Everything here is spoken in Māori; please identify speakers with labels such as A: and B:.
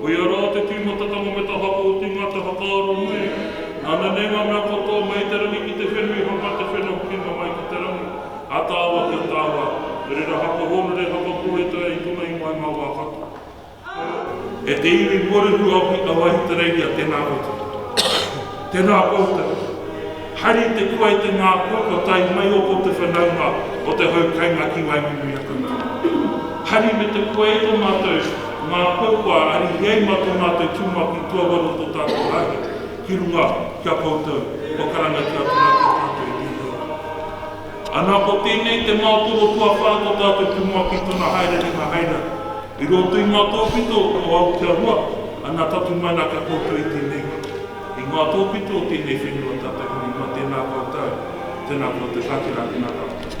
A: Ko ia rā te tīmatatanga me te haka o te ingoa te whakaaro nui. Nana nei ngā mea katoa mai i te rangi ki te whenui haka te whena hukinga mai ki te rangi, a tāua ki a tāua, he rera haka hōnore, haka pōhētaia i tōna ingoa i ngā wā katoa. E te iwi Porirua o Ki Awahitereiria, tēnā koutou. Tēnā koutou. Haere te kua i te ngākau kua tae mai o ko te whanaunga o te hau kainga ki Waimumiriakamta. Hari me te kua e to matou ngākau kua arihi ai ma to matou tumapi tuawaru to tatou hahi ki runga ki a koutou kua karangatia atu ra ki a tatou e Pihia. Ana ko tenei te maotoro tuawha to tatou tumapi tona haere ringa haere i roto i ma to whito o au kia rua ana tatu mai na kia koutou i tenei. I ngā tōpito o tēnei whenua tātai hoki, kua tēnā koutou, tēnā koutou, ka tērā ki ngā tāngata.